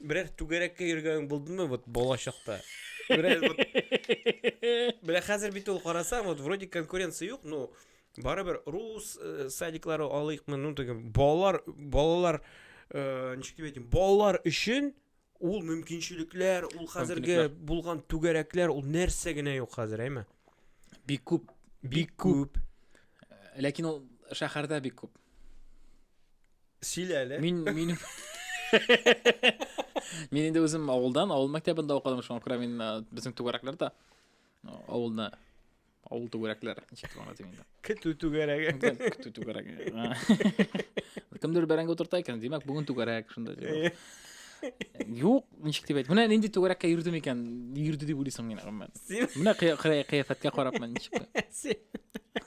Берәр түгәрәккә йөргәнең булдымы вот бала чакта? Берәр вот Бля, хәзер бит ул карасаң, вот вроде конкуренция юк, но барыбер рус э, садиклары алыйкмы, ну теге балалар балалар э, ничек дип әйтим, балалар өчен ул мөмкинчелекләр, ул хәзерге Мөмкинлекләр. булган түгәрәкләр, ул нәрсә генә юк хәзер, әйме? Бик күп. Бик күп. Ләкин ул шәһәрдә бик күп. Сөйлә әле. Мин мин Мин инде үзем авылдан, авыл мәктәбендә укыдым, шуңа күрә мин э, безнең түгәрәкләр дә э, авылны авыл түгәрәкләр ничек дип аңлатыйм инде. Көтү түгәрәге. Көтү түгәрәге. Кемдер бәрәңге утырта икән, димәк, бүген түгәрәк шунда дип. Юк, ничек дип әйт. Менә нинди түгәрәккә йөрдем икән, йөрде дип уйлыйсың мин, гомумән. Менә кыяфәткә карап мен ничек.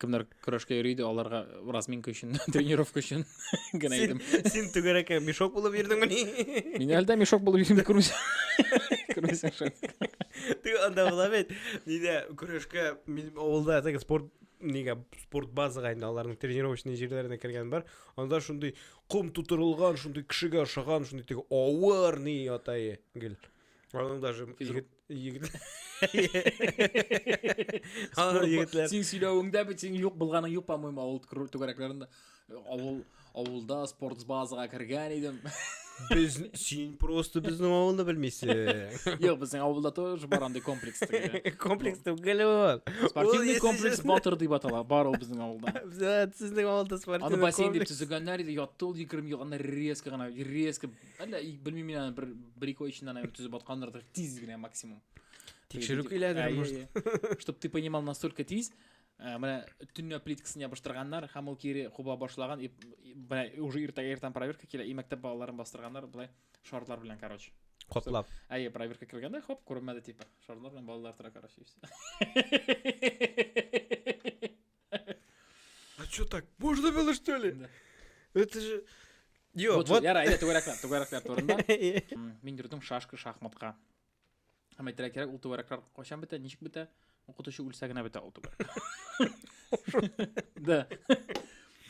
Кемнәр көрәшкә йөри иде, аларга разминка өчен, тренировка өчен генә Син, идем. син түгәрәккә мешок булып йөрдеңмени? Мин әлдә мешок булып йөрим күрмисең. Күрмисең шул. Ты анда була бит. Нидә көрәшкә мин авылда теге спорт нигә спорт базага инде аларның тренировочный җирләренә кергән бар. Анда шундый ком тутырылган, шундый кешегә ошаган, шундый теге авыр ни ятае гел. Аның даже Физрук. егет Егетләр. Алар егетләр. Син сөйләвеңдә бит син юк булганың юк, по-моему, авыл түгәрәкләрендә. Авыл авылда спорт базага кергән идем. Без син просто безнең авылны белмисең. Юк, безнең авылда тоже бар андый комплекс. Комплекс түгел ул. Спортивный комплекс Батыр дип атала, бар ул безнең авылда. Сезнең авылда спортивный комплекс. Аны бассейн дип төзегәннәр иде, ятты ул 20 ел, аны резко гына, резко Әллә белмим мин аны бер бер ике ай эчендә наверное төзеп аткандыр тиз генә максимум. Тикшерү көйләдер может. Чтоб ты понимал настолько тиз, э, менә төнлә плиткасын ябыштырганнар һәм ул кире куба башлаган и менә уже иртә иртән проверка килә и мәктәп балаларын бастырганнар болай шартлар белән короче. Котлап. Әйе, проверка кергәндә, хоп, күренмәде типа. Шарлар белән балалар тора, короче. А что так? Можно было, что ли? Да. Это же... Йо, вот, вот... Яра, әйдә, түгәрәк яр, түгәрәк яр турында. Мин йөрдем шашка, шахматка. Һәм әйтергә кирәк, ул түгәрәкләр кайчан бетә, ничек бетә? Укытучы үлсә генә бетә ул түгәрәк. Да.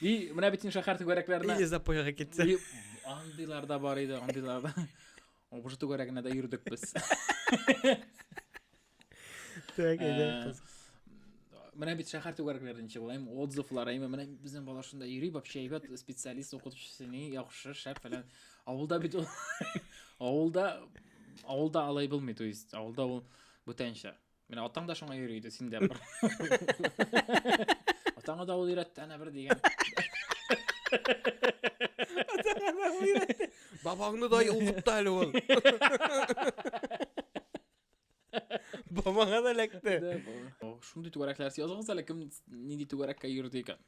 И менә бит инде шәһәр түгәрәкләренә. Или запойга китсә. Андыйлар да бар иде, андыйлар да. Обжы түгәрәгенә дә йөрдек без. Так, әйдә, э, кыз. Менә бит шәһәр түгәрәкләреннән чыгылайм, отзывлар, әйме, менә безнең бала шунда йөри, вообще әйбәт специалист укытучысы ни, яхшы, шәп фәлән. Авылда бит ул. Авылда авылда алай булмый, то есть авылда ул бүтәнчә. Менә атаң да шуңа йөри иде, синдә бер. Атаңа да ул өйрәтте, әнә бер дигән. Атаңа да ул өйрәтте. Бабаңны да укытты әле ул. Бабаңа да эләкте. Шундый түгәрәкләр языгыз әле кем нинди түгәрәккә йөрде икән.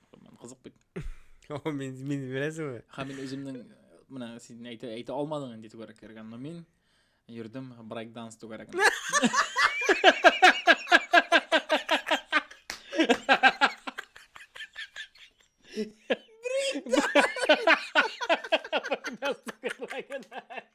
Кызык бит. О, мин мин беләсеңме? Ха мин үземнең менә син әйтә әйтә алмадың инде түгәрәк кергән, но мин йөрдем брейк данс түгәрәгендә.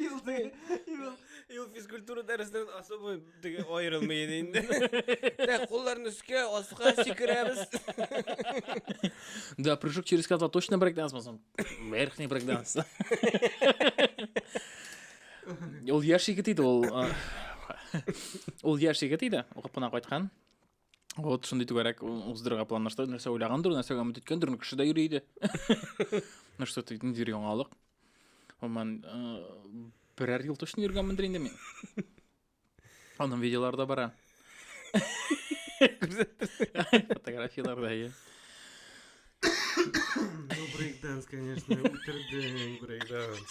Ил теге, ил. Ил физкультура дәресеннән особо теге аерылмый иде инде. Дә кулларны өскә, аска сикерәбез. Да, прыжок через кота точно брейкданс болсам. Верхний брейкданс. Ул яшь егет иде ул. а, Ул яшь егет иде, укып кына кайткан. Вот шундый түгәрәк уздырырга планлаштырды. Нәрсә уйлагандыр, нәрсәгә өмет иткәндер, ну кеше дә йөри иде. Ну что ты, ниндидер яңалык. Гомумән, э, берәр ел точно йөргәнмендер инде мин. Аның видеолары да бара. Фотографияләрдә, иә. Ну, брейкданс, конечно, үтердең, брейкданс.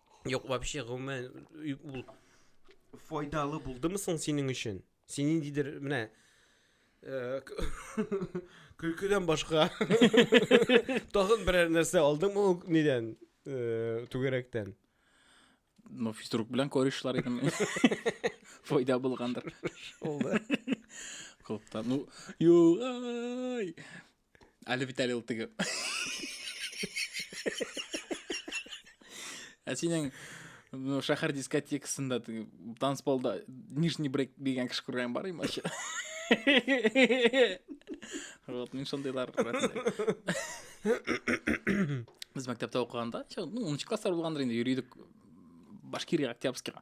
Юк, вообще гомумән ул файдалы булдымы соң синең өчен? Син ниндидер менә э, көлкедән башка тагын берәр нәрсә алдыңмы ул нидән э, түгәрәктән? Ну, физрук белән корешлар идем. Файда булгандыр. Шулда. Клубта. Ну, югай. Әле бит әле ул теге. Ә синең ну, шәһәр дискотекасында танцполда нижний брейк дигән кеше күргән бар имача. Вот, мин шундыйлар Без мәктәптә укыганда, ну, 10 класслар булгандыр инде, йөридек Башкирия Октябрьскийга.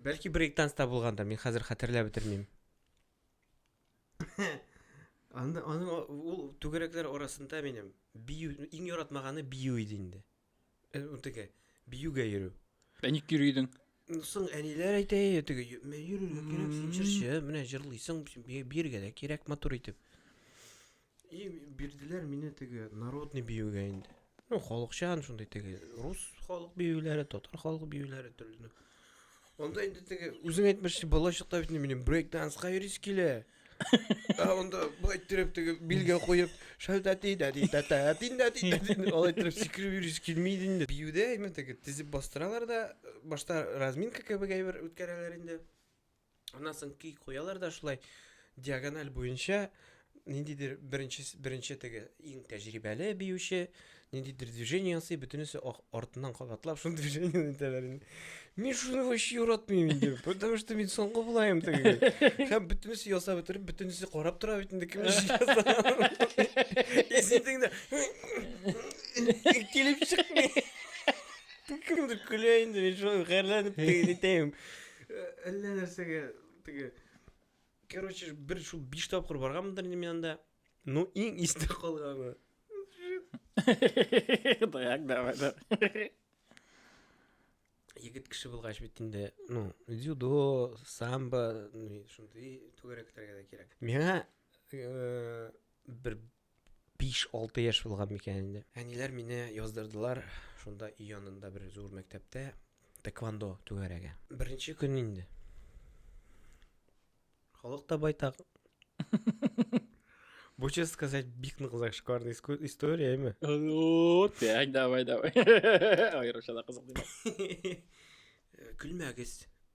Бәлки брейктанста булгандыр, мин хәзер хәтерләп бетермим. Аны аны ул түгәрәкләр арасында минем бию иң яратмаганы бию иде инде. Э, ул теге биюгә йөрү. Ә ник йөридең? Ну, Соң әниләр әйтә, «Әй, теге йө- мә- йөрергә кирәк, син җырчы, менә җырлыйсың, бирергә дә кирәк матур итеп. И бирделәр мине теге народный биюгә инде. Ну, халыкчан шундый теге рус халык биюләре, татар халык биюләре төрле. Анда инде теге үзең әйтмешчә балачакта бит минем брейк данска йөрис килә. Ә анда бу әйттереп теге билгә куеп, шәлтә тидә дидә тә тиндә дидә дидә. Алай итеп сикреп йөрис килми инде. Биюдә именно теге тезеп бастыралар да башта разминка кебек әйбер үткәрәләр инде. Аннан соң көй куялар да шулай диагональ буенча ниндидер беренче беренче теге иң тәҗрибәле биюче ниндидер движение ясый, бөтенесе артыннан кабатлап шул движение итәләр инде. Мин шуны вообще яратмыйм инде, потому что мин соңгы булаем теге. Һәм бөтенесе ясап бетереп, бөтенесе карап тора бит инде кем эш ясап. Исендеңдә килеп чыкмый. Кемдер көлә инде, мин шулай хәрләнеп итәм. Әллә нәрсәгә теге Короче, бер шул биш тапкыр барганмындыр инде мин анда. Ну, иң истә калганы. Даяк, давай, да. Егет кеше булгач бит инде, ну, дзюдо, самбо, ну, шундый түгәрәкләргә дә кирәк. Миңа э, бер 5-6 яшь булган микән инде. Әниләр мине яздырдылар шунда өй янында бер зур мәктәптә тэквондо түгәрәге. Беренче көн инде. Халык та байтак. Бу, честно сказать, бик нык зашкварный история, әйме? Ну, так, давай, давай. Айрыша да кызык димәк. Көлмәгез.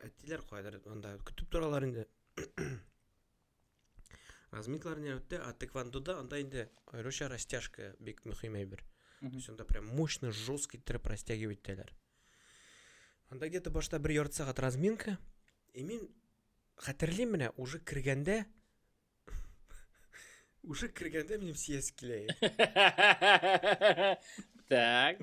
Әтиләр кайдыр анда көтеп торалар инде. Размитлар не үтте, а тэквондода анда инде аеруча растяжка бик мөһим әйбер. То есть анда прям мощно, жестко иттереп растягивать итәләр. Анда где-то башта бер ярты сәгать разминка. И мин хәтерлим менә уже кергәндә уже кергәндә минем сияс килә. Так.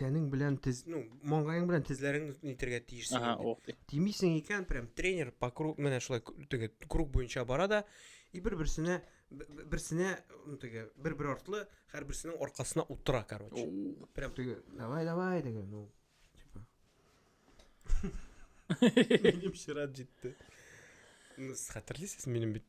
тәнең белән тез ну маңгаең белән тезләреңне нитергә тиешсең ага ох ди тимисең икән прям тренер по круг менә шулай теге круг буенча бара да и бер берсенә берсенә ну теге бер бер артлы һәрберсенең аркасына утыра короче прям теге давай давай деген ну типа минем чират җитте ну хәтерлисез минем бит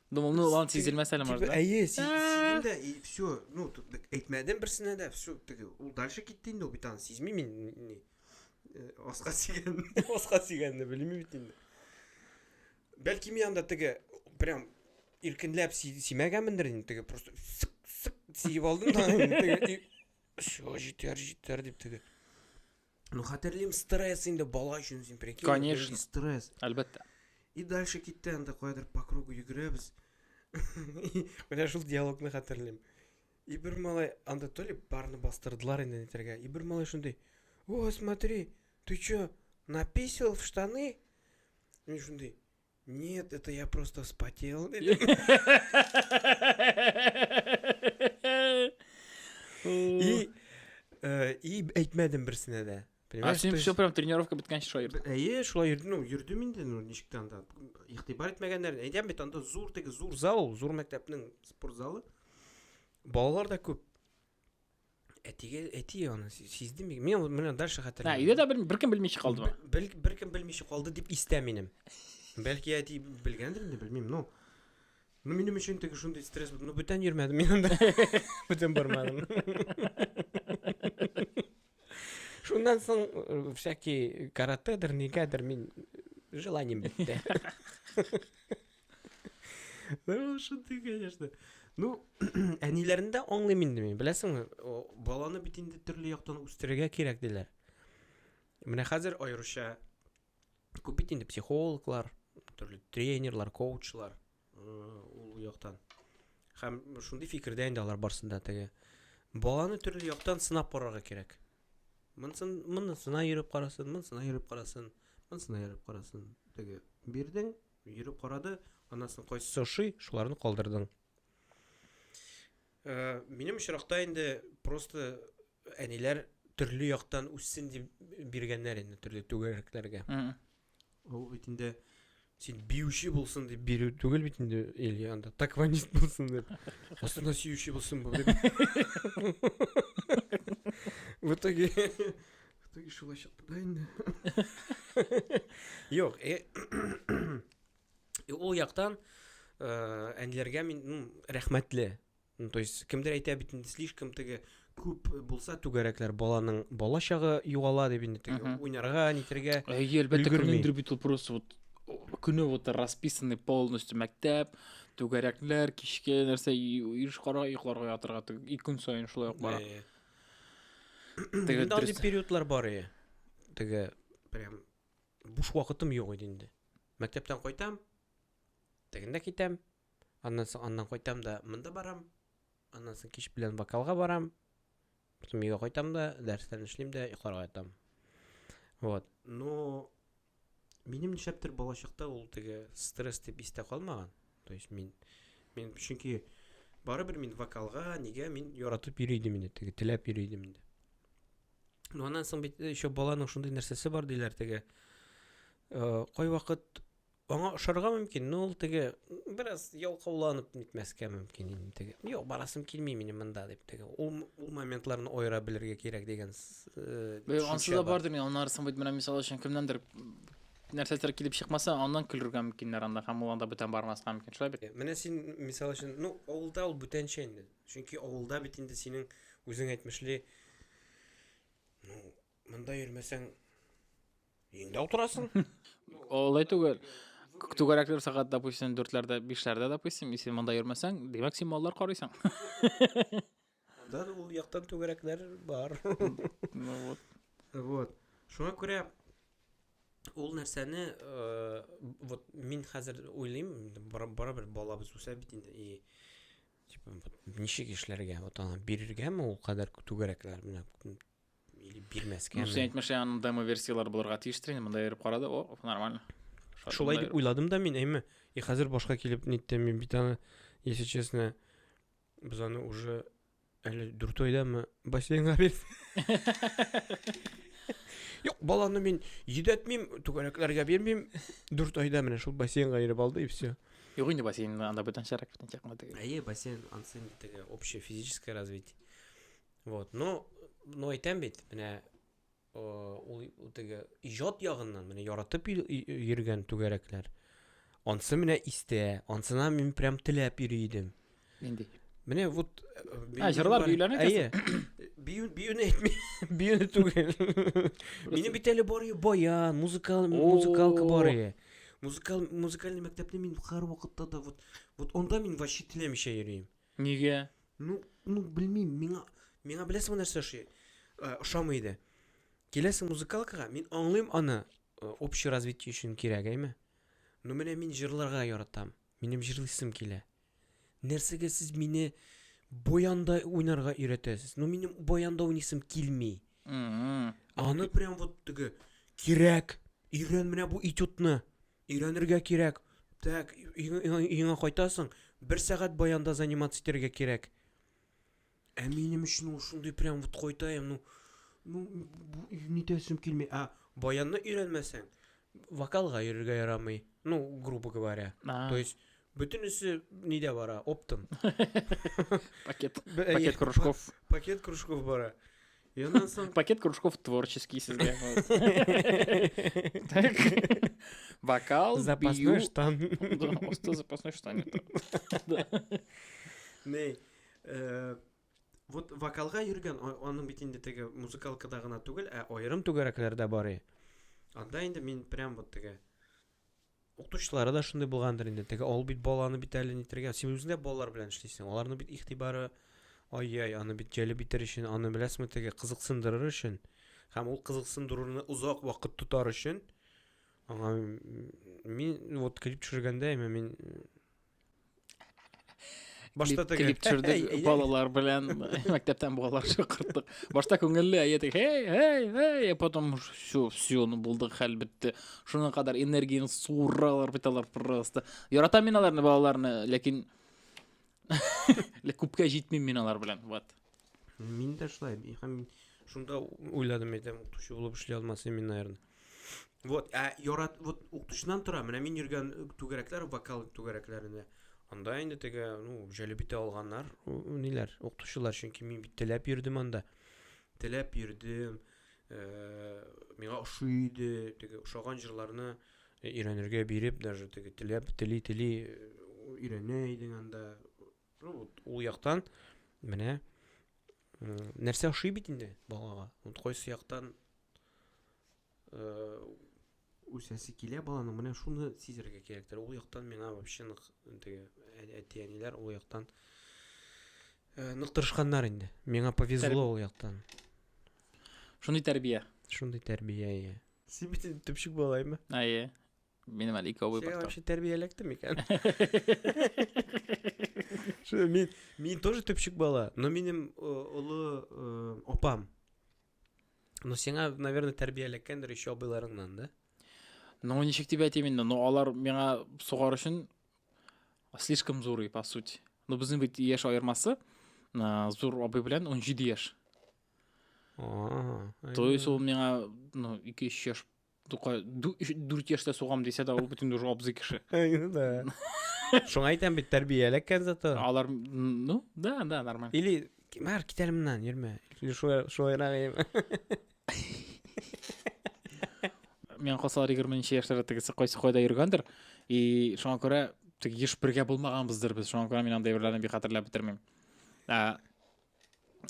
Думалны улан сизелмәс әле может, да? Әйе, сизелдем дә, и все. Ну, әйтмәдем берсенә дә, все, теге. Ул дальше китте инде, ул бит аны сизми мин ни. Э, аска сигән, аска сигәнне белми бит инде. Бәлки мин анда теге прям иркенләп симәгәнмендер инде, теге просто сык сык сиеп алдым да, теге. Все, җитәр, җитәр дип теге. Ну, хәтерлим, стресс инде бала өчен син прикинь. Конечно. Стресс. Әлбәттә. И дальше китте анда кайдыр по кругу йөгерәбез. Менә шул диалогны хәтерлим. И бер малай анда то ли барны бастырдылар инде нитәргә. И бер малай шундый. О, смотри, ты чё, написал в штаны? Мин шундый. Нет, это я просто вспотел. И, э, и әйтмәдем берсенә дә. А Понимаешь, син то все есть- прям тренировка беткәнче шулай йөрдең. Әйе, шулай йөрдем, ну, йөрдем инде, ну, ничек тә анда. Игътибар итмәгәннәрне. Әйтәм бит, анда зур теге зур зал, зур мәктәпнең спорт залы. Балалар да күп. әтигә әти аны сизде мин мен менә дальше хәтерләмим өйдә дә беркем белмичә калдымы беркем белмичә калды дип истә минем бәлки әти белгәндер инде белмим ну ну минем өчен теге шундый стресс ну бүтән йөрмәдем мин анда бүтән бармадым шуннан соң э, всякий каратедер нигәдер мин желанием бетте Шундый, конечно. Ну, әниләрне дә аңлыйм инде мин. Беләсеңме, баланы бит инде төрле яктан үстерергә кирәк диләр. Менә хәзер аеруча күп бит инде психологлар, төрле тренерлар, коучлар ул яктан. Һәм шундый фикердә инде алар барсында теге баланы төрле яктан сынап карарга кирәк. Монсын, монысына йөреп карасын, монысына йөреп карасын, монысына йөреп карасын. Теге бирдең, Йөреп карады, аннан соң кайсысы ошый, шуларны калдырдың. Э, минем очракта инде просто әниләр төрле яктан үссен дип биргәннәр инде төрле түгәрәкләргә. Ул бит инде син биюче булсын дип бирү түгел бит инде или анда такванист булсын дип. Астына сөюче булсын бу. В итоге Теге шулай чыкты да инде. Юк, э, э, ул яктан э, әниләргә мин ну, рәхмәтле. Ну, то есть кемдер әйтә бит инде слишком теге күп булса түгәрәкләр баланың бала чагы югала дип инде теге Мгм. уйнарга, нитергә. Әйе, әлбәттә, Өлгерми. кемнеңдер бит ул просто вот о, көне вот расписанный полностью мәктәп, түгәрәкләр, кичке нәрсә, и- еш кара йокларга ятырга, тө- и көн саен шулай ук бара. Э, Теге Инде андый периодлар бар ие. Теге прям буш вакытым юк иде инде. Мәктәптән кайтам, тегендә китәм, аннан соң аннан кайтам да монда барам, аннан соң кич белән вокалга барам, потом өйгә кайтам да, дәресләрне эшлим дә йокларга ятам. Вот. Но Минем нишләптер балачакта ул теге стресс дип истә калмаган. То есть мин мин чөнки барыбер мин вокалга, нигә мин яратып йөри идем инде, теге теләп йөри идем инде. Ну аннан соң бит э, еще баланың шундый нәрсәсе бар диләр теге. Э, кай вакыт аңа ошарга мөмкин, но ул теге бераз ялкауланып нитмәскә мөмкин инде теге. Юк, барасым килми минем монда дип теге. Ул ул моментларны аера белергә кирәк дигән Бе, ансыз да бардыр мин аннары соң бит менә мисал өчен кемнәндер нәрсәдер килеп чыкмаса, аннан көлергә мөмкиннәр анда һәм ул анда бүтән бармаска мөмкин. Шулай бит? Менә син мисал өчен, ну, авылда ул бүтәнчә инде. Чөнки авылда бит инде синең үзең әйтмешли, ну, монда йөрмәсәң, инде утырасың. Олай түгел. Түгәрәкләр сәгать, допустим, дүртләрдә, бишләрдә, допустим, если монда йөрмәсәң, димәк, син маллар карыйсың. Да, ул яктан түгәрәкләр бар. Ну вот. Вот. Шуңа күрә ул нәрсәне э, вот мин хәзер уйлыйм барыбер балабыз үсә бит инде и типа вот ничек эшләргә вот аны бирергәме ул кадәр түгәрәкләр менә или бирмәскә ну син әйтмешә аның демо версияләр булырга тиеш тренер монда йөреп карады о нормально шулай дип уйладым да мин әйме и хәзер башка килеп ниттем мин бит аны если честно Без аны уже әле дүрт айдамы бассейнга бирдек. Юк, баланы мин йөдәтмим, түгәрәкләргә бирмим. Дүрт айда менә шул бассейнга йөреп алды и все. Юк инде бассейн анда бүтәнчәрәк, бүтәнчәрәк кына теге. Әйе, бассейн ансын теге общее физическое развитие. Вот, но, но әйтәм бит, менә Ул теге иҗат ягыннан менә яратып йөргән түгәрәкләр. Ансы менә истә, ансына мин прям теләп йөри идем. Нинди? Менә вот Ә җырлар биюләрне әйе. Бию биюне әйтми, биюне түгел. Минем бит әле бар баян, музыкал музыкалка бар иде. Музыкал музыкальный мәктәпне мин һәр вакытта да вот вот анда мин вообще теләмичә йөрим. Нигә? Ну, ну белмим, миңа миңа беләсеңме нәрсә ошый? Э, ошамый иде. Киләсең музыкалкага, мин аңлыйм аны, э, общий развитие өчен кирәк, әйме? Ну менә мин җырларга яратам. Минем җырлыйсым килә. Нәрсәгә сез мине баянда уйнарга өйрәтәсез? Ну минем баянда уйныйсым килми. Аны прям вот теге кирәк. Өйрән менә бу этюдны. Өйрәнергә кирәк. Так, өеңә кайтасың, бер сәгать баянда заниматься итәргә кирәк. Ә минем өчен ул шундый прям вот кайтаем, ну, ну, нитәсем килми. А баянны өйрәнмәсәң, вокалга йөрергә ярамый. Ну, грубо говоря. То есть бөтенесе нидә бара? Оптом. Пакет. Пакет кружков. Пакет кружков бара. И она сам... Пакет кружков творческий сізге. Так. Бокал, Запасной штан. Да, просто запасной штан. Не, э, вот вокалга йөргән, аның бит инде теге музыкалкада гына түгел, ә аерым түгәрәкләрдә бары. Анда инде мин прям вот теге Укытучылары да шундый булгандыр инде. Теге ул бит баланы бит әле нитергән. Син үзең дә балалар белән эшлисең. Аларның бит игътибары ай-яй, аны бит җәлеп итер өчен, аны беләсеңме теге кызыксындырыр өчен. Һәм ул кызыксындыруны озак вакыт тотар өчен аңа мин вот клип төшергәндә, мин башта теге клип төшердек балалар белән мәктәптән балалар чакырттык башта күңелле әйе теге эй эй эй потом все все ну булды хәл бетте шуңа кадәр энергияны суыралар бит алар просто яратам мин аларны балаларны ләкин күпкә җитмим мин алар белән вот мин дә шулай һәм шунда уйладым әйтәм укытучы булып эшли алмас мин наверное Вот, ә ярат, вот укытучыдан тора. Менә мин йөргән түгәрәкләр, вокал түгәрәкләрендә. Анда инде теге, ну, җәлеп итә алганнар, ниләр, укытучылар, чөнки мин бит теләп йөрдем анда. Теләп йөрдем. Э, миңа ошый иде, теге ошаган җырларны өйрәнергә биреп, даже теге теләп, тели-тели э, өйрәнә идең анда. Ну, вот, ул яктан менә нәрсә ошый бит инде балага. Вот кайсы яктан э, үсәсе килә баланың, менә шуны сизергә кирәктер. Ул яктан миңа вообще нык теге әти-әниләр ул яктан э, нык тырышканнар инде. Миңа повезло ул яктан. Шундый тәрбия. Шундый тәрбия, иә. Син бит төпчек балаймы? Әйе. Минем әле ике абый бар. Син тәрбияләктем микән? Шуны мин мин тоже төпчек бала, но минем олы э, апам. Но сиңа, наверное, тәрбияләткәндер еще абыйларыңнан, да? Ну, ничек дип әйтим инде, но алар миңа сугар өчен слишком зурый, по сути. Ну, безнең бит яшь аермасы э, зур абый белән 17 яшь. То есть ул миңа, ну, 2-3 яшь Тукай, ду- өч- дүрт яшьтә сугам дисә дә, ул бөтен уже абзый кеше. Әйе, да. Шуңа әйтәм бит, тәрбия эләккән зато. Алар, м, ну, да, да, нормально. Или, Мар, кит әле моннан, йөрмә. Или шулай- шулайрак ием. Мен калсалар 20 яшьләрдә тегесе кайсы кайда йөргәндер, и шуңа күрә теге еш бергә булмаганбыздыр без, шуңа күрә мин андый әйберләрне бик хәтерләп бетермим. Ә,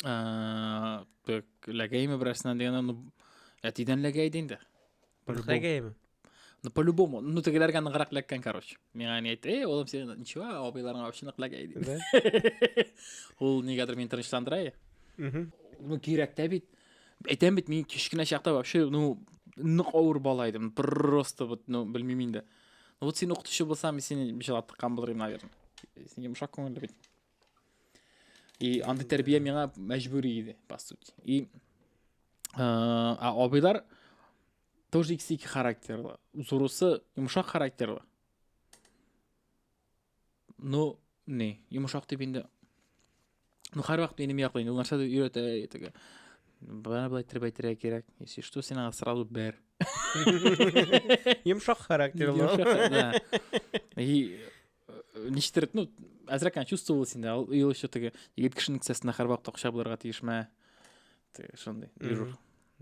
Э, так, ләгәйме берәрсенә дигәндә, ну, әтидән ләгәй иде инде. Ләгәйме? Ну, по-любому. Ну, тегеләргә ныграк ләккән, короче. Миңа не әйтте, эй, олым, сен ничего, абыйларыңа вообще нык ләгәй иде. Ул нигәдер мин тынычландыра. Ну, кирәк тә бит. Әйтәм бит, мин кечкенә чакта вообще, ну, нык авыр бала идем. Просто вот, ну, белмим инде. Ну, вот син укытучы булсам, мин сине җылатып кан булыр идем, наверное. Син йомшак күңелле бит. И андый тәрбия миңа мәҗбүри иде, по сути. И а абыйлар тоже икесе ике характерлы. Зурысы йомшак характерлы. Ну, не, йомшак дип инде. Ну, һәрвакыт минем яклы инде. Ул нәрсә дә өйрәтә итеге. Бана былай итеп әйтергә кирәк. Если что, син аңа сразу бер. Йомшак характерлы. И Ништер, ну, әзрәк кенә чувствовалось инде, ул ел еще теге егет кешенең кесәсенә һәрвакыт акча булырга тиешмә. Теге шундый. Дежур.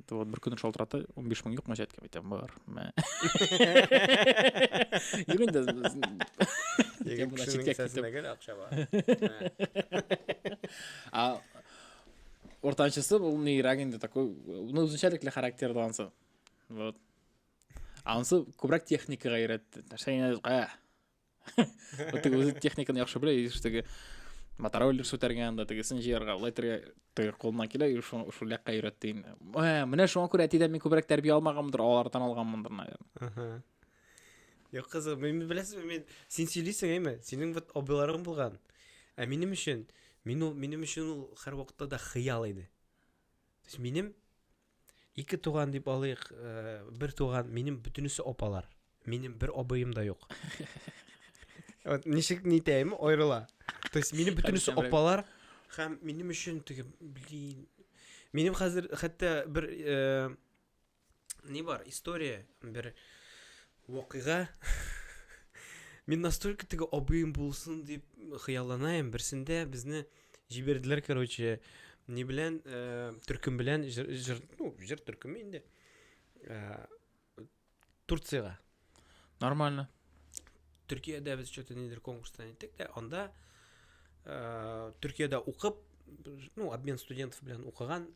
Вот бер көн шалтырата, 15 мең юкмы җәткә әйтәм, бар. Мә. Юк инде. Егет кешенең кесәсенә гел акча бар. А уртанчысы ул нирәк инде такой, ну, үзенчәлекле характерда ансы. Вот. Ансы күбрәк техникага өйрәтте. Нәрсә генә, теге үзе техниканы яхшы белә и теге мотороллер сүтәргән да тегесен җыярга алай итәргә теге кулына килә и шул шул якка өйрәтте инде ә менә шуңа күрә әтидән мин күбрәк тәрбия алмаганмындыр алардан алганмындыр наверное юк кызык мин беләсезме мин син сөйлисең әйме синең вот абыйларың булган ә минем өчен мин ул минем өчен ул һәрвакытта да хыял иде то есть минем Ике туган дип алыйк, э, бер туган, минем бөтенесе апалар. Минем бер абыем да юк. Вот ничек нитәем, аерыла. То есть минем бөтенесе Хәдисән белән. апалар һәм минем өчен теге, блин. Минем хәзер хәтта бер э, ни бар, история, бер Вакыйга Мин настолько теге абыем булсын дип хыялланаем. Берсендә безне җибәрделәр, короче, ни белән, э, төркем белән, җыр, җыр, ну, җыр төркеме инде. Э, Турцияга. Нормально. Төркиядә без что-то нидер конкурстан иттек дә, анда э, Төркиядә укып, ну, обмен студентов белән укыган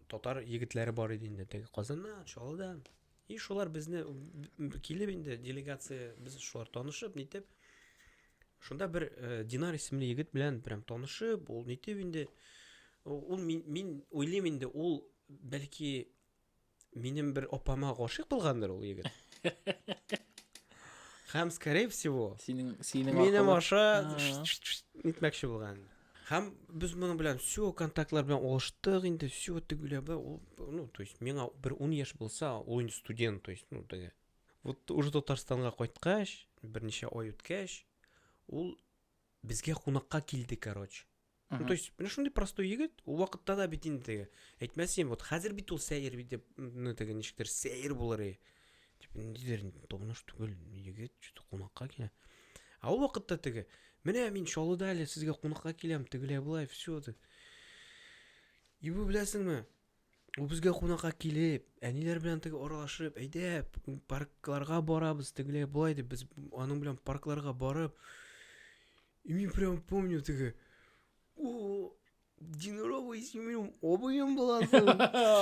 татар егетләре бар иде инде. Теге Казаннан, Чаллыдан, И шулар безне килеп инде делегация без шулар танышып нитеп шунда бер э, динар исемле егет белән прям танышып ул нитеп инде ул мин, мин уйлыйм инде ул бәлки минем бер апама гашыйк булгандыр ул егет һәм скорее всего синең синең минем аша нитмәкче булган Һәм без моның белән все контактлар белән алыштык инде, все тегүләбе, ул, ну, то есть, миңа бер 10 яшь булса, ул инде студент, то есть, ну, теге. Вот уже Татарстанга кайткач, берничә ай үткәч, ул безгә кунакка килде, короче. Ну, то есть, менә шундый простой егет, ул вакытта да бит инде теге. Әйтмәсем, вот хәзер бит ул сәер бит, ну, теге ничектер сәер булыр и. Типа, ниндидер томныш түгел егет, что-то кунакка килә. А ул вакытта теге, менә мин Чаллыда әле сезгә кунакка киләм, тегеләй былай, все ди. И бу беләсеңме? Ул безгә кунакка килеп, әниләр белән теге аралашып, әйдә, паркларга барабыз, тегеләй былай дип, без аның белән паркларга барып, и мин прям помню теге, Динорова исемем обоем боласың.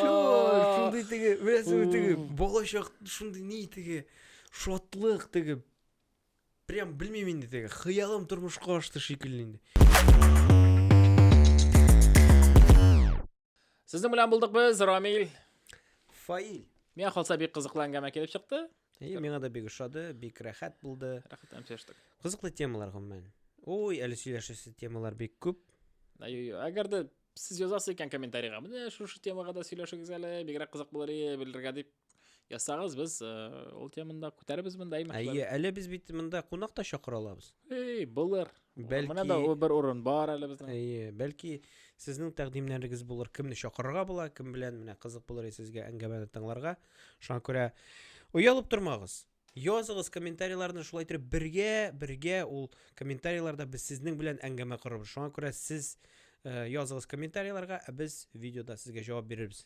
Шундый теге, беләсеңме теге балачак шундый ни теге шатлык теге. Прям белмим инде теге хыялым тормышка ашты шикелле инде. Сезнең белән булдык без, Рамил. Фаил. Миңа калса бик кызыклы әңгәмә килеп чыкты. И, миңа да бик ошады, бик рәхәт булды. Рәхәт һәм сөйләштек. Кызыклы темалар гомумән. Ой, әле сөйләшәсе темалар бик күп. Ай-ой, әгәр дә сез язасыз икән комментарийга, менә шушы темага да сөйләшегез әле, бигрәк кызык булыр иде белергә дип язсагыз, без э, ул теманы да күтәребез монда. Әйе, әле без бит монда кунак та чакыра алабыз. Эй, булыр. Бәлки... Менә да бер урын бар әле безнең. Әйе, бәлки сезнең тәкъдимнәрегез булыр, кемне чакырырга була, кем белән менә кызык булыр сезгә әңгәмәне тыңларга. Шуңа күрә оялып тормагыз. Языгыз комментарийларны шулай итеп бергә, бергә ул комментарийларда без сезнең белән әңгәмә корабыз. Шуңа күрә сез э, языгыз комментарийларга, ә без видеода сезгә җавап бирербез.